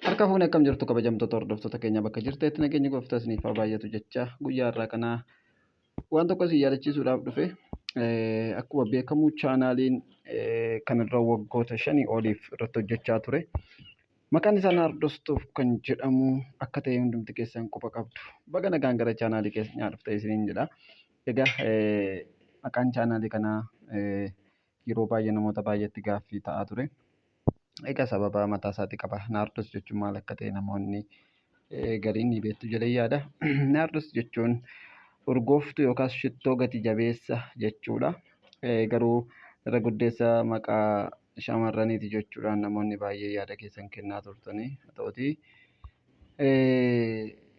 Harka fuunee akkam jirtu kabajamtoota hordoftoota keenya bakka jirteetti nageenyi gooftaa isiniif haa baay'atu jecha guyyaa har'aa kana waan tokko isin yaadachiisuudhaaf dhufe Eh, akkuma beekamu chaanaaliin eh, kanarra waggoota shanii oliif irratti hojjechaa ture maqaan isaa naardostuuf kan jedhamu akka ta'e hundumti keessan quba qabdu baga nagaan gara chaanaalii keessan dhufte isiniin jedha egaa eh, maqaan chaanaalii kanaa eh, yeroo baay'ee namoota baay'eetti gaaffii ta'aa ture. Egaa sababa mataa isaatii qaba. Naardos jechuun maal akka ta'e namoonni gariin ni beektu jedhee yaada. Naardos jechuun urgooftuu yookaas shittoo gati jabeessa jechuudha. Garuu irra guddeessa maqaa shamarraniiti jechuudhaan namoonni baay'ee yaada keessan kennaa turtanii haa ta'utii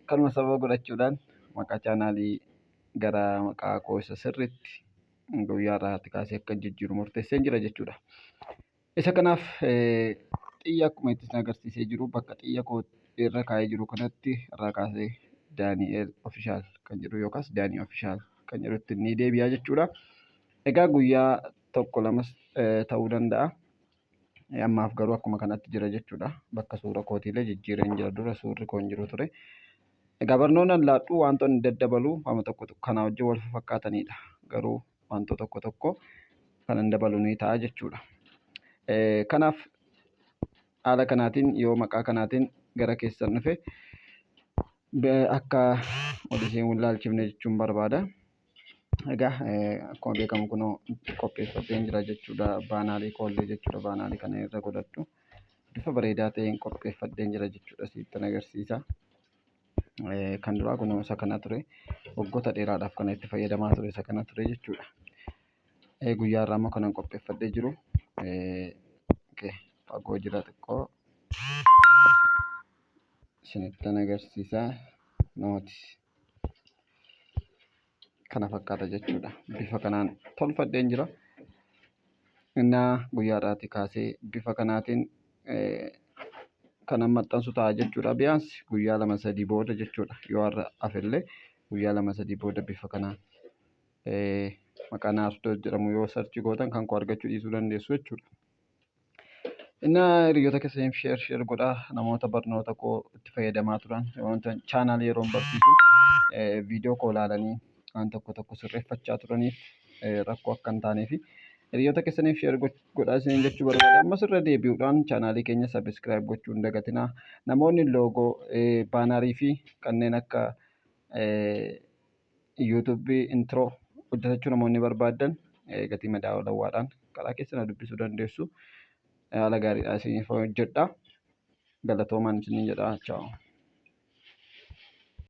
kanuma sababa godhachuudhaan maqaa chaanaalii gara maqaa koo isa sirriitti guyyaa irraatti kaasee akka jijjiiru murteessee jira jechuudha. Isa kanaaf xiyya akkuma itti agarsiisee jiru bakka xiyya koo irra kaa'ee jiru kanatti irraa kaasee Daani'eel Ofishaal kan jedhu yookaas Daanii Ofishaal kan jedhutti ni deebi'a jechuudha. Egaa guyyaa tokko lamas ta'uu danda'a. Ammaaf garuu akkuma kanatti jira jechuudha. Bakka suura kootiillee jijjiireen jira dura suurri koo hin jiru ture. Egaa barnoonni an laadhu wantoonni daddabaluu hama tokko tokko kanaa wajjin wal fakkaataniidha. Garuu wantoo tokko tokko kan hin dabalu ni ta'a jechuudha. Kanaaf haala kanaatiin yoo maqaa kanaatiin gara keessan dhufe akka wal isheen wal ilaalchifne jechuun barbaada. Egaa akkuma beekamu kunoo qopheeffadheen jira jechuudha. Baanaarii koollee jechuudha. Baanaarii kana irra godhadhu. Bifa bareedaa ta'een qopheeffadheen jira jechuudha sittan agarsiisa. Kan duraa kunoo isa kana ture. Waggoota dheeraadhaaf kan itti fayyadamaa ture isa kana ture jechuudha. Guyyaa har'aa immoo kanan qopheeffadhee jiru fagoo jira xiqqoo isinittan agarsiisa. Nooti. kana fakkaata jechuudha. Bifa kanaan tolfadheen jira. Innaa guyyaadhaatii kaasee bifa kanaatiin kanan maxxansu ta'a jechuudha. Biyaansi guyyaa lama sadii booda jechuudha. Yoo har'a hafellee guyyaa lama sadii booda bifa kanaan maqaa naasudoo jedhamu yoo sarchii gootan kan koo argachuu dhiisuu dandeessu jechuudha. Innaa hiriyoota keessaniif sheer sheer godhaa namoota barnoota koo itti fayyadamaa turan wanta chaanaal yeroon barsiisu viidiyoo koo ilaalanii waan tokko tokko sirreeffachaa turaniif rakkoo akka hin taanee fi hiriyoota keessaniif sheer godhaa isiniin jechuu barbaada. Ammas irra deebi'uudhaan chaanaalii keenya sabiskiraayib gochuu hin dagatinaa. Namoonni loogoo baanarii fi kanneen akka YouTube intro hojjetachuu namoonni barbaaddan eh, gatii madaalawwaadhaan karaa keessa na dubbisuu dandeessu. Eh, Haala gaariidhaan isiniif hojjedha. Galatoomaan isiniin jedha. Chaaw.